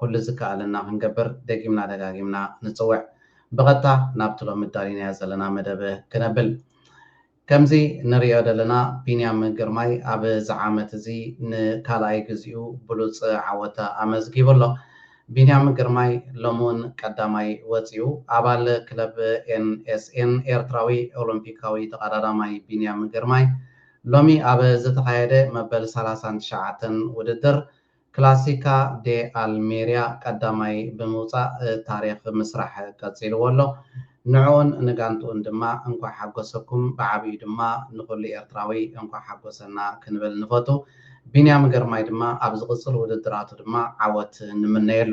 ኩሉ ዝከኣለና ክንገብር ደጊምና ደጋጊምና ንጽውዕ። ብቐጥታ ናብቲ ሎሚ ኣዳሊናዮ ዘለና መደብ ክነብል። ከምዚ ንርእዮ ዘለና ቢንያም ግርማይ ኣብ እዚ ዓመት እዚ ንካልኣይ ግዚኡ ብሉጽ ዓወት ኣመዝጊቡ ኣሎ። ቢንያም ግርማይ ሎሚ ውን ቀዳማይ ወጺኡ። ኣባል ክለብ NSN ኤርትራዊ ኦሎምፒካዊ ተቐዳዳማይ ቢንያም ግርማይ ሎሚ ኣብ ዝተኻየደ መበል ሰላሳን ትሽዓተን ውድድር ክላሲካ ደ ኣልሜርያ ቀዳማይ ብምውጻእ ታሪኽ ምስራሕ ቀጺልዎ ኣሎ። ንዕኡን ንጋንትኡን ድማ እንኳዕ ሓጎሰኩም፣ ብዓቢኡ ድማ ንኹሉ ኤርትራዊ እንኳዕ ሓጎሰና ክንብል ንፈቱ። ቢንያም ግርማይ ድማ ኣብ ዝቕጽል ውድድራቱ ድማ ዓወት ንምነየሉ።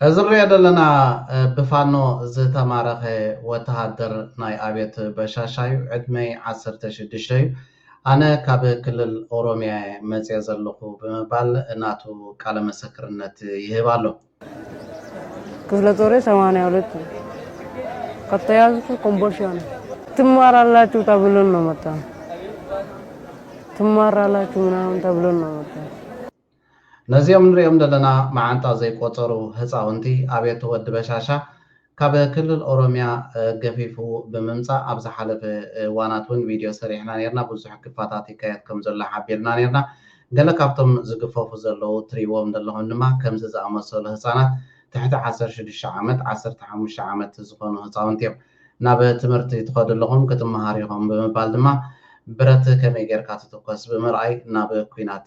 እዚ ንሪኦ ዘለና ብፋኖ ዝተማረኸ ወተሃደር ናይ ኣብዮት በሻሻ እዩ። ዕድመይ ዓሰርተ ሽዱሽተ እዩ። ኣነ ካብ ክልል ኦሮሚያ እየ መፅየ ዘለኹ ብምባል ናቱ ቃለ መሰክርነት ይህብ ኣሎ። ክፍለ ጦሬ ሰማንያ ሁለት ነው። ከተያዝኩ ኮምቦልቻ ነው። ትማራላችሁ ተብሎን ነው መጣ ትማራላችሁ ምናምን ተብሎን ነው መጣ ነዚኦም ንሪኦም ዘለና መዓንጣ ዘይቆጸሩ ህጻውንቲ ኣቤቶ ወዲ በሻሻ ካብ ክልል ኦሮሚያ ገፊፉ ብምምጻእ ኣብ ዝሓለፈ እዋናት ውን ቪድዮ ሰሪሕና ኔርና ብዙሕ ግፋታት ይካየድ ከም ዘሎ ሓቢርና ኔርና ገለ ካብቶም ዝግፈፉ ዘለዉ ትሪእዎም ዘለኹም ድማ ከምዚ ዝኣመሰሉ ህጻናት ትሕቲ ዓሰርተ ሽዱሽተ ዓመት ዓሰርተ ሓሙሽተ ዓመት ዝኾኑ ህጻውንቲ እዮም ናብ ትምህርቲ ትኸዱ ኣለኹም ክትመሃሩ ኢኹም ብምባል ድማ ብረት ከመይ ጌርካ ትትኮስ ብምርኣይ ናብ ኩናት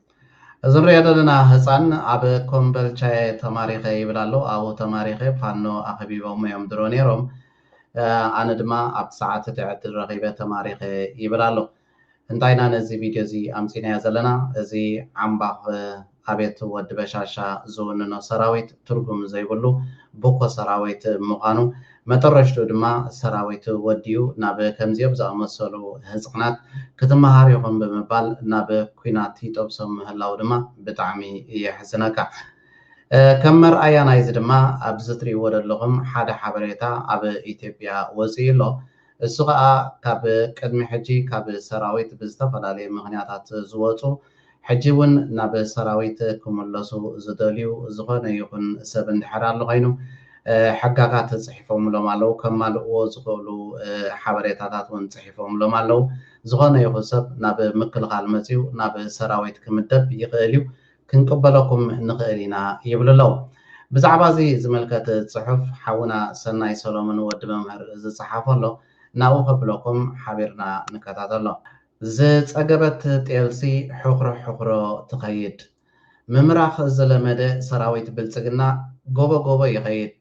እዚ ንሪኦ ዘለና ህፃን ኣብ ኮምበልቻየ ተማሪኸ ይብል ኣሎ ኣብኡ ተማሪኸ ፋኖ ኣኺቢቦሞ እዮም ድሮ ነይሮም ኣነ ድማ ኣብቲ ሰዓት እቲ ዕድል ረኺበ ተማሪኸ ይብል ኣሎ እንታይ ኢና ነዚ ቪድዮ እዚ ኣምፂናዮ ዘለና እዚ ዓምባኽ ኣብየት ወዲ በሻሻ ዝውንኖ ሰራዊት ትርጉም ዘይብሉ ቡኮ ሰራዊት ምዃኑ መጠረሽትኡ ድማ ሰራዊት ወዲኡ ናብ ከምዚኦም ዝኣመሰሉ ህጻናት ክትመሃር ኢኹም ብምባል ናብ ኩናት ይጠብሶም ምህላዉ ድማ ብጣዕሚ የሕዝነካ። ከም መርኣያ ናይዚ ድማ ኣብዚ ትሪእዎ ደለኹም ሓደ ሓበሬታ ኣብ ኢትዮጵያ ወጺኡ ኣሎ። እሱ ከኣ ካብ ቅድሚ ሕጂ ካብ ሰራዊት ብዝተፈላለዩ ምክንያታት ዝወጹ ሕጂ ውን ናብ ሰራዊት ክምለሱ ዝደልዩ ዝኮነ ይኩን ሰብ እንድሕር ኣሎ ኮይኑ ሕጋጋት ጽሒፎምሎም ኣለዉ ከማልእዎ ዝክእሉ ሓበሬታታት ውን ጽሒፎምሎም ኣለዉ ዝኮነ ይኩን ሰብ ናብ ምክልካል መጽዩ ናብ ሰራዊት ክምደብ ይክእል እዩ ክንቅበለኩም ንኽእል ኢና ይብሉ ኣለዉ። ብዛዕባ እዚ ዝምልከት ጽሑፍ ሓውና ሰናይ ሰሎሙን ወዲ መምህር ዝጸሓፎ ኣሎ ናብኡ ከብለኩም ሓቢርና ንከታተሎ። ዝጸገበት ጤልሲ ሑኽሮ ሑኽሮ ትኸይድ። ምምራኽ ዝለመደ ሰራዊት ብልጽግና ጎቦ ጎቦ ይኸይድ።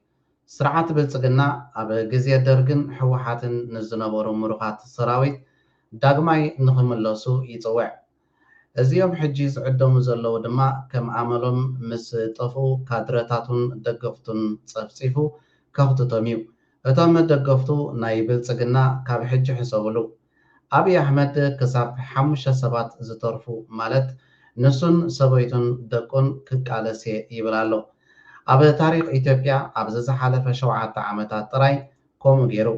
ስርዓት ብልጽግና ኣብ ግዜ ደርግን ህወሓትን ንዝነበሩ ምሩኻት ሰራዊት ዳግማይ ንኽምለሱ ይጽውዕ። እዚኦም ሕጂ ዝዕደሙ ዘለዉ ድማ ከም ኣመሎም ምስ ጠፍኡ ካድረታቱን ደገፍቱን ጸፍጺፉ ከኽትቶም እዩ። እቶም ደገፍቱ ናይ ብልጽግና ካብ ሕጂ ሕሰብሉ። ኣብይ ኣሕመድ ክሳብ ሓሙሽተ ሰባት ዝተርፉ ማለት ንሱን ሰበይቱን ደቁን ክቃለስ እየ ይብል ኣሎ። ኣብ ታሪኽ ኢትዮጵያ ኣብዚ ዝሓለፈ ሸውዓተ ዓመታት ጥራይ ከምኡ ጌሩ።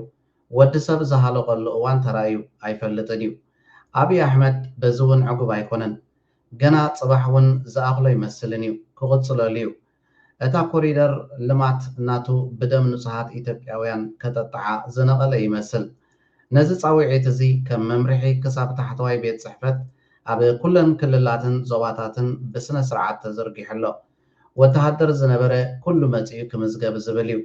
ወዲ ሰብ ዝሃለቐሉ እዋን ተራእዩ ኣይፈልጥን እዩ። ኣብይ ኣሕመድ በዚ እውን ዕጉብ ኣይኮነን። ገና ፅባሕ እውን ዝኣኽሎ ኣይመስልን እዩ። ክቕፅለሉ እዩ። እታ ኮሪደር ልማት ናቱ ብደም ንፁሃት ኢትዮጵያውያን ከጠጥዓ ዝነቐለ ይመስል። ነዚ ፃውዒት እዚ ከም መምርሒ ክሳብ ታሕተዋይ ቤት ፅሕፈት ኣብ ኩለን ክልላትን ዞባታትን ብስነ ስርዓት ተዘርጊሑ ኣሎ። ወተሃደር ዝነበረ ኩሉ መፂኡ ክምዝገብ ዝብል እዩ።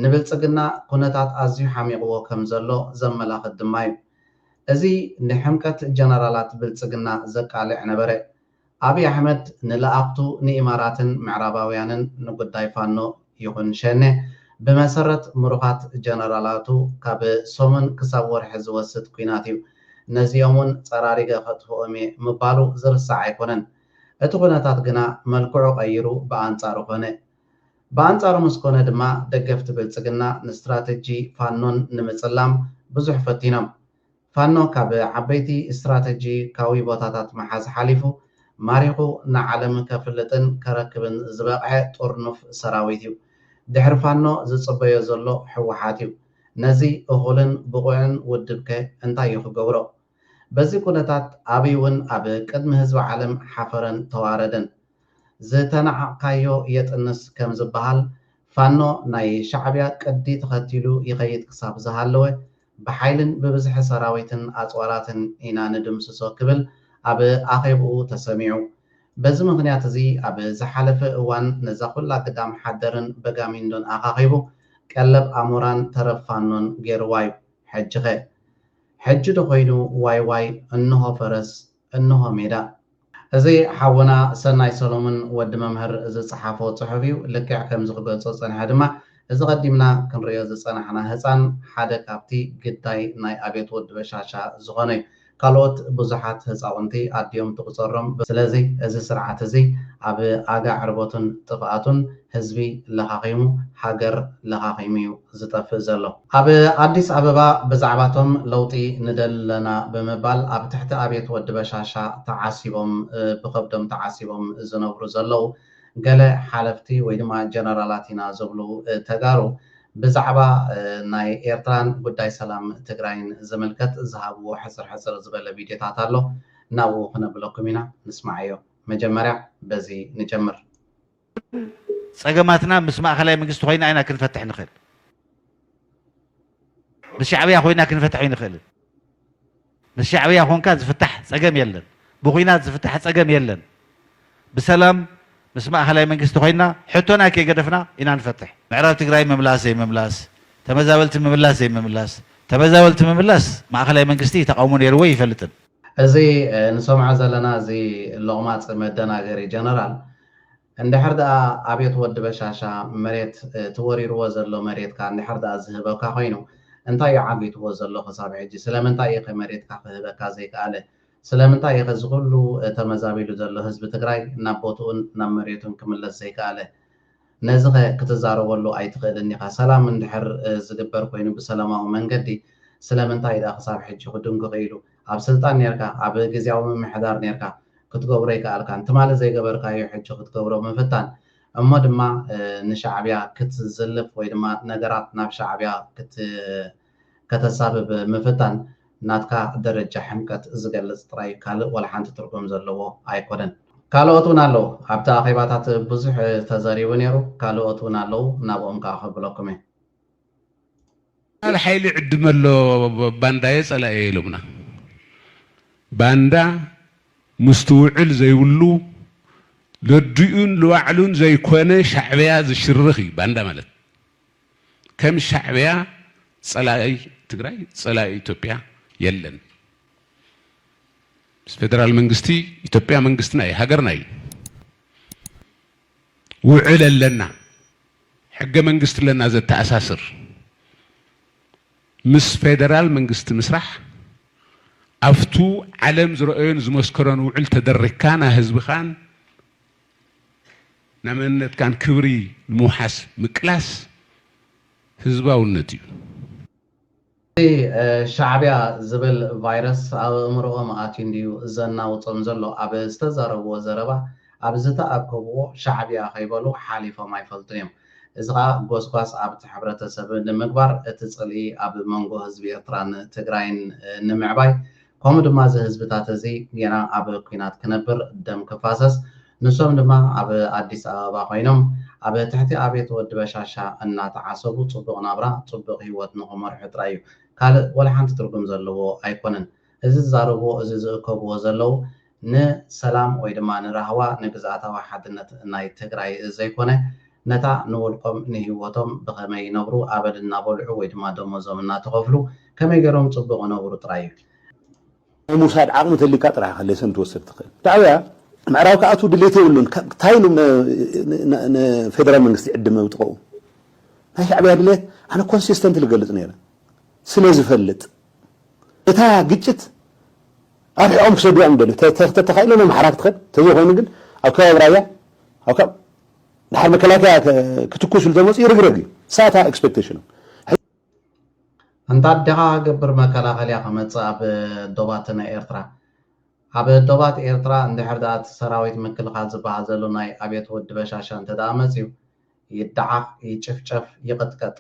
ንብልጽግና ኩነታት ኣዝዩ ሓሚቕዎ ከም ዘሎ ዘመላኽት ድማ እዩ። እዚ ንሕምቀት ጀነራላት ብልጽግና ዘቃልዕ ነበረ። ኣብይ ኣሕመድ ንለኣኽቱ ንኢማራትን ምዕራባውያንን ንጉዳይ ፋኖ ይኹን ሸኔ ብመሰረት ምሩኻት ጀነራላቱ ካብ ሰሙን ክሳብ ወርሒ ዝወስድ ኲናት እዩ፣ ነዚኦም እውን ጸራሪገ ከጥፍኦም እየ ምባሉ ዝርሳዕ ኣይኮነን። እቲ ኩነታት ግና መልክዑ ቀይሩ ብኣንጻሩ ኮነ። ብኣንጻሩ ምስ ኮነ ድማ ደገፍቲ ብልጽግና ንስትራተጂ ፋኖን ንምጽላም ብዙሕ ፈቲኖም። ፋኖ ካብ ዓበይቲ ስትራተጂካዊ ቦታታት ምሓዝ ሓሊፉ ማሪኹ ንዓለም ከፍልጥን ከረክብን ዝበቕዐ ጥርኑፍ ሰራዊት እዩ። ድሕሪ ፋኖ ዝጽበዮ ዘሎ ህወሓት እዩ። ነዚ እኹልን ብቑዕን ውድብከ እንታይ እዩ ክገብሮ? በዚ ኩነታት ኣብይውን ኣብ ቅድሚ ህዝቢ ዓለም ሓፈረን ተዋረደን። ዝተናዓቕካዮ የጥንስ ከም ዝበሃል ፋኖ ናይ ሻዕብያ ቅዲ ተኸቲሉ ይኸይድ ክሳብ ዝሃለወ ብሓይልን ብብዝሒ ሰራዊትን ኣፅዋራትን ኢና ንድምስሶ ክብል ኣብ ኣኼብኡ ተሰሚዑ። በዚ ምኽንያት እዚ ኣብ ዝሓለፈ እዋን ነዛ ኩላ ግዳም ሓደርን በጋሚንዶን ኣኻኺቡ ቀለብ ኣሞራን ተረፍ ፋኖን ገይርዋ ዩ። ሕጂኸ ሕጂ ዶ ኮይኑ ዋይ ዋይ እንሆ ፈረስ እንሆ ሜዳ። እዚ ሓውና ሰናይ ሰሎሙን ወዲ መምህር ዝጸሓፎ ጽሑፍ እዩ። ልክዕ ከምዚ ክገልጾ ዝጸንሐ ድማ እዚ ቀዲምና ክንርእዮ ዝጸናሕና ህጻን ሓደ ካብቲ ግዳይ ናይ ኣብዮት ወዲ በሻሻ ዝኾነ እዩ። ካልኦት ብዙሓት ህጻውንቲ ኣዲኦም ትቁጸሮም ስለዚ እዚ ስርዓት እዚ ኣብ ኣጋ ዕርበቱን ጥፍኣቱን ህዝቢ ለኻኺሙ ሃገር ለኻኺሙ'ዩ ዝጠፍእ ዘሎ። ኣብ ኣዲስ ኣበባ ብዛዕባ'ቶም ለውጢ ንደሊ ኣለና ብምባል ኣብ ትሕቲ ኣብየት ወዲ በሻሻ ተዓሲቦም ብኸብዶም ተዓሲቦም ዝነብሩ ዘለዉ ገለ ሓለፍቲ ወይ ድማ ጀነራላት ኢና ዝብሉ ተጋሩ ብዛዕባ ናይ ኤርትራን ጉዳይ ሰላም ትግራይን ዝምልከት ዝሃብዎ ሕጽር ሕጽር ዝበለ ቪድዮታት ኣሎ ናብኡ ክነብለኩም ኢና ንስማዓዮ መጀመርያ በዚ ንጀምር። ኩሉ ጸገማትና ምስ ማእከላይ መንግስቲ ኮይና ኢና ክንፈትሕ ንኽእል። ምስ ሻዕብያ ኮይና ክንፈትሕ ኣይንኽእልን። ምስ ሻዕብያ ኮንካ ዝፍታሕ ጸገም የለን። ብኩናት ዝፍታሕ ጸገም የለን። ብሰላም ምስ ማእከላይ መንግስቲ ኮይና ሕቶና ከይገደፍና ኢና ንፈትሕ። ምዕራብ ትግራይ ምምላስ ዘይምምላስ፣ ተመዛበልቲ ምምላስ ዘይምምላስ፣ ተመዛበልቲ ምምላስ ማእከላይ መንግስቲ ተቓውሞ ነይርዎ ኣይፈልጥን። እዚ ንሰምዖ ዘለና እዚ ሎቕማጽ መደናገሪ ጀነራል እንድሕር ድኣ ኣብየት ወዲ በሻሻ መሬት እቲ ወሪርዎ ዘሎ መሬትካ እንድሕር ድኣ ዝህበካ ኮይኑ እንታይ እዩ ዓጊትዎ ዘሎ ክሳብ ሕጂ ስለምንታይ እዩኸ መሬትካ ክህበካ ዘይክኣለ ስለምንታይ እዩኸ እዚ ኩሉ ተመዛቢሉ ዘሎ ህዝቢ ትግራይ ናብ ቦትኡን ናብ መሬቱን ክምለስ ዘይክኣለ ነዚኸ ክትዛረበሉ ኣይትኽእልን ኢኻ ሰላም እንድሕር ዝግበር ኮይኑ ብሰላማዊ መንገዲ ስለምንታይ ድኣ ክሳብ ሕጂ ክድንጉ ክኢሉ ኣብ ስልጣን ኔርካ ኣብ ግዝያዊ ምምሕዳር ኔርካ ክትገብሮ ኣይከኣልካን ትማሊ ዘይገበርካዮ ሕጂ ክትገብሮ ምፍታን እሞ ድማ ንሻዕብያ ክትዝልፍ ወይ ድማ ነገራት ናብ ሻዕብያ ከተሳብብ ምፍታን ናትካ ደረጃ ሕምቀት ዝገልጽ ጥራይ ካልእ ወላሓንቲ ትርጉም ዘለዎ ኣይኮነን። ካልኦት ውን ኣለዉ ኣብቲ ኣኼባታት ብዙሕ ተዘሪቡ ኔሩ ካልኦት ውን ኣለዉ ናብኦም ከኣ ከብለኩም እየ። ጀነራል ሓይሊ ዕድመ ኣሎ ባንዳየ ጸላእየ ኢሎምና ባንዳ ምስትውዕል ዘይብሉ ለዲኡን ልባዕሉን ዘይኮነ ሻዕብያ ዝሽርኽ እዩ ባንዳ ማለት ከም ሻዕብያ ጸላኢ ትግራይ ጸላኢ ኢትዮጵያ የለን ፌደራል መንግስቲ ኢትዮጵያ መንግስትና እዩ ሃገርና እዩ ውዕል ኣለና ሕገ መንግስቲ ኣለና ዘተኣሳስር ምስ ፌደራል መንግስቲ ምስራሕ ኣፍቱ ዓለም ዝረኦዮን ዝመስከሮን ውዕል ተደሪክካ ና ህዝብኻን ና መንነትካን ክብሪ ንምውሓስ ምቅላስ ህዝባውነት እዩ። እዚ ሻዕብያ ዝብል ቫይረስ ኣብ ኣእምርኦም ኣትዩ እንድዩ ዘናውጾም ዘሎ ኣብ ዝተዛረብዎ ዘረባ ኣብ ዝተኣከብዎ ሻዕብያ ከይበሉ ሓሊፎም ኣይፈልጡን እዮም እዚ ከኣ ጎስጓስ ኣብቲ ሕብረተሰብ ንምግባር እቲ ጽልኢ ኣብ መንጎ ህዝቢ ኤርትራን ትግራይን ንምዕባይ ከምኡ ድማ እዚ ህዝብታት እዚ ጌና ኣብ ኩናት ክነብር ደም ክፋሰስ ንሶም ድማ ኣብ ኣዲስ ኣበባ ኮይኖም ኣብ ትሕቲ ኣብየት ወዲ በሻሻ እናተዓሰቡ ጽቡቅ ናብራ ጽቡቅ ሂወት ንክመርሑ ጥራይ እዩ ካልእ ወላሓንቲ ትርጉም ዘለዎ ኣይኮነን እዚ ዝዛረብዎ እዚ ዝእከብዎ ዘለዉ ንሰላም ወይ ድማ ንራህዋ ንግዝኣታዊ ሓድነት ናይ ትግራይ ዘይኮነ ነታ ንውልቆም ንሂወቶም ብኸመይ ይነብሩ ኣበል እናበልዑ ወይ ድማ ደሞዞም እናተኸፍሉ ከመይ ገይሮም ፅቡቕ ይነብሩ ጥራይ እዩ። ናይ ምውሳድ ዓቕሚ ተልዩካ ጥራሕ ኢኻ ሌሰን ትወስድ ትኽእል። ሻዕብያ ምዕራብ ክኣትው ድሌት የብሉን ታይ ኢሉ ንፌደራል መንግስቲ ይዕድም ኣብ ጥቐኡ ናይ ሻዕብያ ድሌት ኣነ ኮንሲስተንትሊ ክገልፅ ነይረ ስለዝፈልጥ እታ ግጭት ኣርሒቖም ክሰድዋ እዮም ዝደልዩ ተተኻኢሎም ኣምሓራ ክትኸድ ተዘይኮይኑ ግን ኣብ ከባቢ ራያ ኣብ ካብ ድሓር መከላከያ ክትኩስ ኢሉ ተመፅኡ ይርግረግ እዩ ሳታ ኤክስፔክቴሽኖም እንታ ኣዴኻ ገብር መከላኸልያ ክመፅእ ኣብ ዶባት ናይ ኤርትራ ኣብ ዶባት ኤርትራ እንድሕር ድኣ እቲ ሰራዊት ምክልኻል ዝበሃል ዘሎ ናይ ኣብየት ወዲ በሻሻ እንተድኣ መፅዩ ይደዓኽ ይጭፍጨፍ ይቕጥቀጥ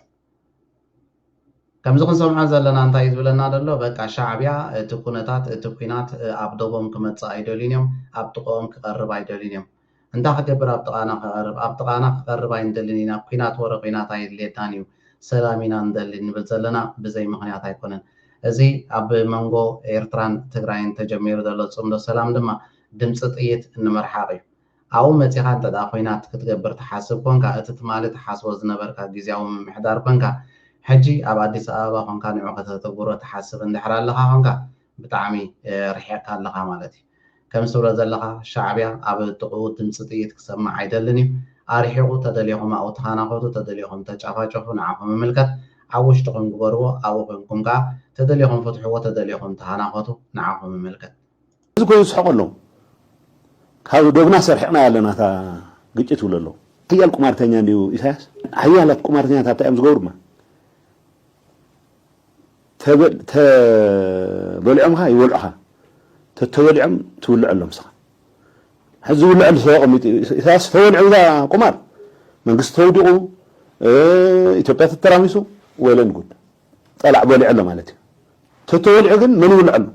ከምዚ ክንሰምዖ ዘለና እንታይ እዩ ዝብለና ዘሎ በቃ ሻዕብያ እቲ ኩነታት እቲ ኩናት ኣብ ዶቦም ክመጽእ ኣይደልዩን እዮም ኣብ ጥቆኦም ክቀርብ ኣይደልዩን እዮም እንታይ ክገብር ኣብ ጥቃና ክቀርብ ኣብ ጥቃና ክቀርብ ኣይንደልን ኢና ኩናት ወረ ኩናት ኣየድልየናን እዩ ሰላም ኢና ንደሊ እንብል ዘለና ብዘይ ምክንያት ኣይኮነን እዚ ኣብ መንጎ ኤርትራን ትግራይን ተጀሚሩ ዘሎ ጽምዶ ሰላም ድማ ድምጺ ጥይት እንመርሓቅ እዩ ኣብኡ መጺኻ እንተድኣ ኹናት ክትገብር ትሓስብ ኮንካ፣ እቲ ትማሊ ትሓስቦ ዝነበርካ ግዝያዊ ምምሕዳር ኮንካ፣ ሕጂ ኣብ ኣዲስ ኣበባ ኮንካ ንዑ ከተተግብሮ ትሓስብ እንድሕር ኣለኻ ኮንካ፣ ብጣዕሚ ርሒቕካ ኣለኻ ማለት እዩ። ከምዚ ትብሎ ዘለኻ ሻዕብያ ኣብ ጥቕኡ ድምጺ ጥይት ክሰምዕ ኣይደልን እዩ። ኣርሒቑ፣ ተደሊኹም ኣብኡ ተኻናኾቱ፣ ተደሊኹም ተጫፋጨፉ፣ ንዓኹም ይምልከት። ኣብ ውሽጥኹም ግበርዎ፣ ኣብኡ ኮንኩም ከኣ ተደሊኹም ፍትሕዎ፣ ተደሊኹም ተኻናኾቱ፣ ንዓኹም ይምልከት። እዚ ኮይኑ ዝስሕቐሎም ካብ ዶብና ሰርሒቕናያ ኣለና እታ ግጭት ይብሉ ኣለዉ። ሓያል ቁማርተኛ እንድዩ ኢሳያስ። ሓያላት ቁማርተኛታት እንታይ እዮም ዝገብሩ ድማ ተበሊዖምኻ ይበልዑኻ ተተበሊዖም ትውልዐሎም ንስኻ ሕዚ ዝውልዐሉ ተቐሚጡ እዩ ኢሳያስ ተበሊዑ እዛ ቁማር መንግስቲ ተውዲቑ ኢትዮጵያ ተተራሚሱ ወለን ጉድ ፀላዕ በሊዑ ኣሎ ማለት እዩ ተተወሊዑ ግን መን ይውልዐሉ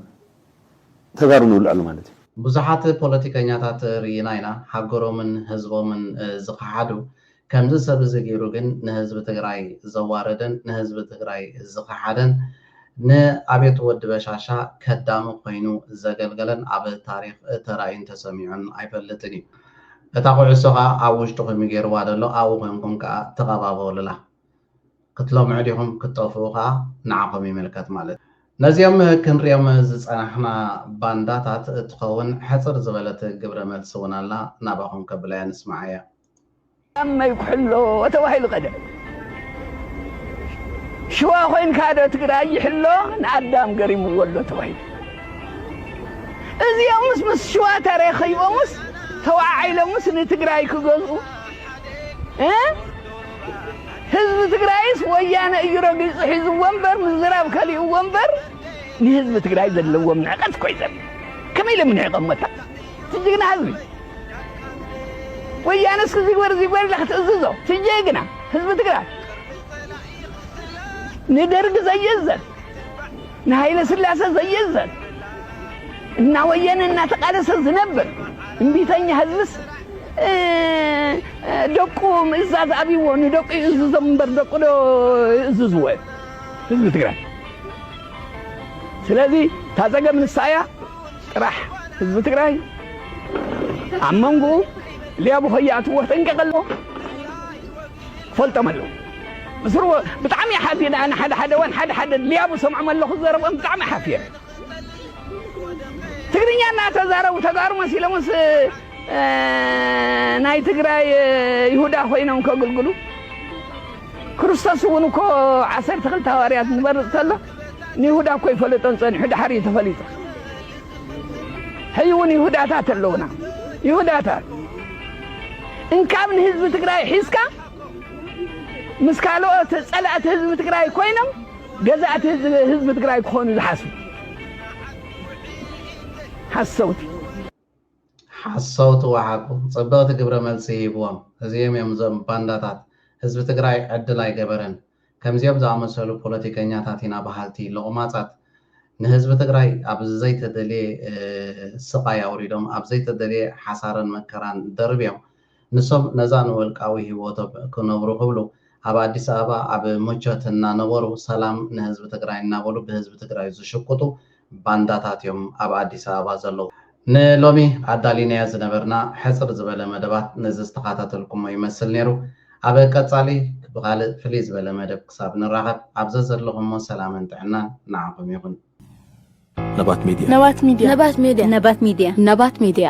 ተጋሩ ንውልዐሉ ማለት እዩ። ብዙሓት ፖለቲከኛታት ርኢና ኢና ሃገሮምን ህዝቦምን ዝኸሓዱ ከምዚ ሰብ እዚ ገይሩ ግን ንህዝቢ ትግራይ ዘዋረደን ንህዝቢ ትግራይ ዝኸሓደን ን ኣቤቱ ወዲ በሻሻ ከዳሚ ኮይኑ ዘገልገለን ኣብ ታሪኽ ተራእዩን ተሰሚዑን ኣይፈልጥን እዩ እታ ኩዕሶ ከኣ ኣብ ውሽጥኹም እዩ ገይርዋ ደሎ ኣብኡ ኮንኩም ከኣ ተቀባበሉላ ክትለምዑ ዲኹም ክትጠፍኡ ከኣ ንዓኹም ይምልከት ማለት እዩ። ነዚኦም ክንሪኦም ዝጸናሕና ባንዳታት እትኸውን ሕጽር ዝበለት ግብረ መልሲ እውን ኣላ ናባኹም ከብላያ ንስምዓያ። ኣመይ ኩሕሎ ተባሂሉ ከደ ሽዋ ኮይንካ ዶ ትግራይ ይሕሎ ንኣዳም ገሪምዎ ኣሎ ተባሂሉ እዚኦምስ ምስ ሽዋ ተረኺቦምስ ተዋዓዒሎምስ ንትግራይ ክገዝኡ እ ህዝቢ ትግራይስ ወያነ እዩ ረጊፁ ሒዝዎ እምበር ምዝራብ ከሊእዎ እምበር ንህዝቢ ትግራይ ዘለዎም ንዕቀት እኮ እዩ ዘርኢ ከመይ ኢሎም ንዕቐሞታ ትጅግና ህዝቢ ወያነ እስኪ ዝግበር እዚ ግበር ኢላ ክትእዝዞ ትጀግና ህዝቢ ትግራይ ንደርጊ ዘየዘን ንሃይለስላሰ ዘይእዘዝ እናወየነ እናተቓለሰ ዝነብር እምቢተኛ ህዝብስ ደቁ ምእዛዝ ኣብይዎ ንደቁ ይእዝዞም እምበር ደቁ ዶ ይእዝዝዎ እዮም ህዝቢ ትግራይ ስለዚ እታ ፀገም ንሳ እያ ጥራሕ ህዝቢ ትግራይ ኣብ መንጎኡ ሌቡ ከይኣትዎ ጠንቀቀ ኣለዎ ፈልጦም ኣለዉ ምስሩ ብጣዕሚ እየ ሓዚነ ኣነ ሓደ ሓደ እዋን ሓደ ሓደ ድልያቡ ሰምዖም ኣለኹ ዘረብኦም ብጣዕሚ ሓፍየ ትግርኛ እናተዛረቡ ተጋሩ መሲሎምስ ናይ ትግራይ ይሁዳ ኮይኖም ከግልግሉ ክርስቶስ እውን እኮ ዓሰርተ ክልተ ሃዋርያት ንበርፅ ተሎ ንይሁዳ እኮ ይፈለጦን ጸኒሑ ድሓር እዩ ተፈሊጡ ሕይ እውን ይሁዳታት ኣለውና ይሁዳታት እንካብ ንህዝቢ ትግራይ ሒዝካ ምስ ካልኦት ጸላእቲ ህዝቢ ትግራይ ኮይኖም ገዛእቲ ህዝቢ ትግራይ ክኾኑ ዝሓስቡ ሓሰውቲ ሓሰውቲ ዋሓቁ ፅብቅቲ ግብረ መልሲ ሂብዎም እዚኦም እዮም እዞም ባንዳታት ህዝቢ ትግራይ ዕድል ኣይገበረን ከምዚኦም ዝኣመሰሉ ፖለቲከኛታት ኢና ባሃልቲ ሎቅማፃት ንህዝቢ ትግራይ ኣብ ዘይተደልየ ስቃይ ኣውሪዶም ኣብ ዘይተደልየ ሓሳረን መከራን ደርብዮም ንሶም ነዛ ንውልቃዊ ሂወቶም ክነብሩ ክብሉ ኣብ ኣዲስ ኣበባ ኣብ ምቾት እናነበሩ ሰላም ንህዝቢ ትግራይ እናበሉ ብህዝቢ ትግራይ ዝሽቁጡ ባንዳታት እዮም ኣብ ኣዲስ ኣበባ ዘለዉ። ንሎሚ ኣዳሊናዮ ዝነበርና ሕጽር ዝበለ መደባት ነዚ ዝተኻታተልኩሞ ይመስል ኔሩ። ኣብ ቀጻሊ ብኻልእ ፍልይ ዝበለ መደብ ክሳብ ንራኸብ ኣብ ዘዘለኹሞ ሰላምን ጥዕናን ንዓኹም ይኹን። ነባት ሜድያ። ነባት ሜድያ። ነባት ሜድያ። ነባት ሜድያ። ነባት ሜድያ።